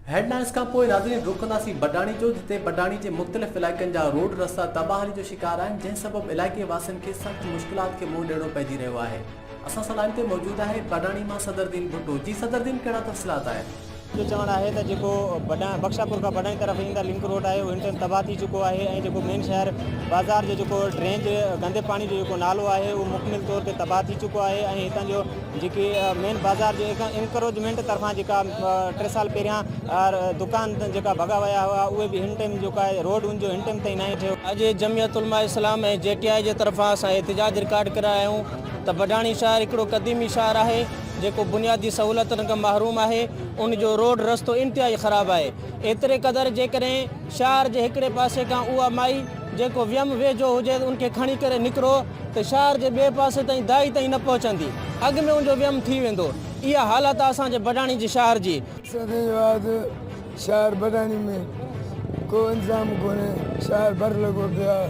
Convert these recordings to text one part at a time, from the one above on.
Headlines کان پوء ناظرين رخ ڪنداسين بڊاڻي جو جتي بڊاڻي جي مختلف علائقن جا روڊ رستا تباهري جو شڪار آهن جنهن سبب علائقي واسين کي سخت مشڪلات کي منهن ڏيڻو پئجي رهيو آهي اسان سان لائين تي موجود آهي بڊاڻي مان صدردين ڀٽو جي صدردين ڪهڙا تفصيلات آهن. جو چوڻ آهي ته جيڪو بخشاپور کان بڊاڻي طرف ايندڙ لنڪ روڊ آهي اهو هن ٽائيم تباهه ٿي چڪو آهي ۽ جيڪو مين شهر بازار جو جيڪو ڊرينج گندي پاڻي جو جيڪو نالو آهي اهو مڪمل طور تي تباهه ٿي چڪو آهي ۽ هتان جو جيڪي مين بازار جي انڪروچمينٽ طرفان جيڪا ٽي سال پهريان دڪان جيڪا ڀڳا ويا هئا اهي به هن ٽيم جيڪا روڊ ان جو هن ٽيم تائين ناهي ٺهيو. اڄ جمعيت علماء اسلام ۽ جي ٽي آء جي طرفان اسان احتجاج رڪارڊ ڪرايا آهيون ته بڊاڻي شهر هڪڙو قديمي شهر آهي جيڪو بنيادي سهولتن کان محروم آهي ان جو روڊ رستو انتهائي خراب آهي ايتري قدر جيڪڏهن شهر جي هڪڙي پاسي کان اها مائي جيڪو ويم ويجهو هجي ان کي کڻي ڪري نڪرو ته شهر جي ٻئي پاسي تائين دائي تائين نه پهچندي. اڳ ۾ ان جو ويم ٿي ويندو. اها حالت آهي اسان جي بڊاڻي جي شهر جي. سندن جو آهي ته شهر بڊاڻي ۾ ڪو انتظام ڪونهي. شهر ڀر لڳو پيو آهي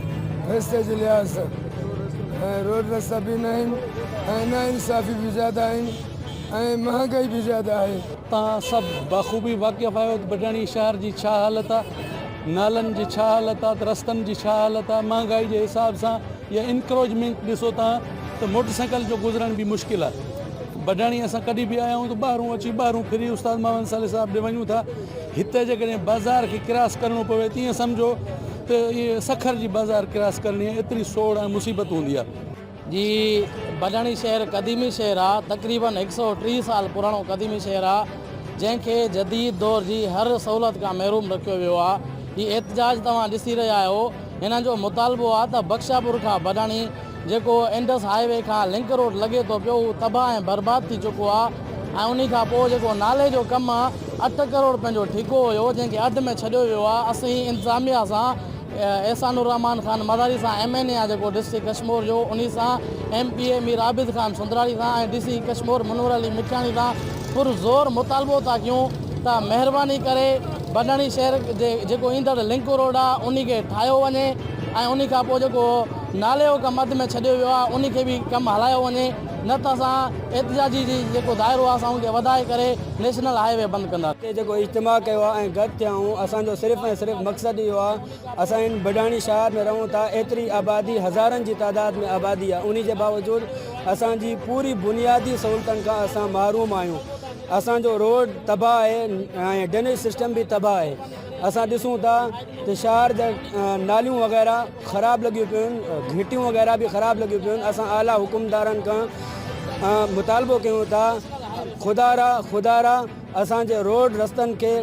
رستي جي لحاظ سان ۽ روڊ رستا به نه آهن ۽ نا انصافي به زياده آهن ۽ مهانگائي به زياده آهي. توهان سڀ بخوبي واقف آهيو ته بڊاڻي شهر جي ڇا حالت آهي. نالن جي ڇا حالت آ ته رستن جي ڇا حالت آ مهانگائي جي حساب سان يا انڪروجمينٽ ڏسو تان ته موٽر سائيڪل جو گذرڻ به مشڪل آ بڊاڻي اسان ڪڏي به آيا آهيون ته ٻاهرون اچي ٻاهرون ڦري استاد ماون صالح صاحب ڏي وڃون ٿا هتي جيڪڏهن بازار کي ڪراس ڪرڻو پوي ته ايئن سمجهو ته سکر جي بازار ڪراس ڪرڻي ايتري سوڙ ۽ مصيبت هوندي آ. جي بنهڻي شهر قديمي شهر آ تقريبن هڪ سئو ٽيهه سال پراڻو قديمي شهر آ جنهن کي جديد دور جي هر سهولت کان محروم رکيو ويو آ هي احتجاج توهان ڏسي رهيا آهيو هنن جو مطالبو آ ته بخشاپور کان بنهڻي جيڪو انڊس هاء وي کان لنڪ روڊ لڳي ٿو پيو هو تباهه ۽ برباد ٿي چڪو آ ۽ انهي کان پوء جيڪو نالي جو ڪم آ اٺ ڪروڙ پنهنجو ٺيڪو هيو جنهن کي اڌ ۾ ڇڏيو ويو آ اسين انتظاميا سان احسان الرحمان خان مزاري سان ايم اين اي آ جيڪو ڊسٽرڪٽ ڪشمور جو انهي سان M P A Mir Abid Khan Sundrani سان ۽ ڊي سي ڪشمور منور علي مٺياڻي سان پر زور مطالبو ٿا ڪيون ته مهرباني ڪري بڊاڻي شهر جي جيڪو ايندڙ لنڪ روڊ آ انهي کي ٺاهيو وڃي ۽ انهي کان پوء جيڪو نالي جو ڪم اڌ ۾ ڇڏيو ويو آ انهي کي به ڪم هلايو وڃي. نه ته اسان احتجاجي جي جيڪو دائرو آهي سان ان کي وڌائي ڪري نيشنل هاء وي بند ڪنداسين. تي جيڪو اجتماع ڪيو آهي ۽ گڏ ٿيا آهيون اسان جو صرف ۽ صرف مقصد اهو آهي اسان هن بڊاڻي شهر ۾ رهون ٿا ايتري آبادي هزارن جي تعداد ۾ آبادي آهي انهي جي باوجود اسان جي پوري بنيادي سهولتن کان اسان محروم آهيون اسان جو روڊ تباهه آهي ۽ ڊنيج سسٽم به تباهه آهي اسان ڏسون ٿا ته شهر جا ناليون وغيره خراب لڳيون پيون گهٽيون وغيره به خراب لڳيون پيون اسان اعليٰ حڪمدارن کان مطالبو ڪيون ٿا خدارا خدارا اسان جي روڊ رستن کي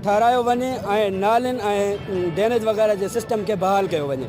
ٺارايو وڃي ۽ نالين ۽ ڊينيج وغيره جي سسٽم کي بحال ڪيو وڃي.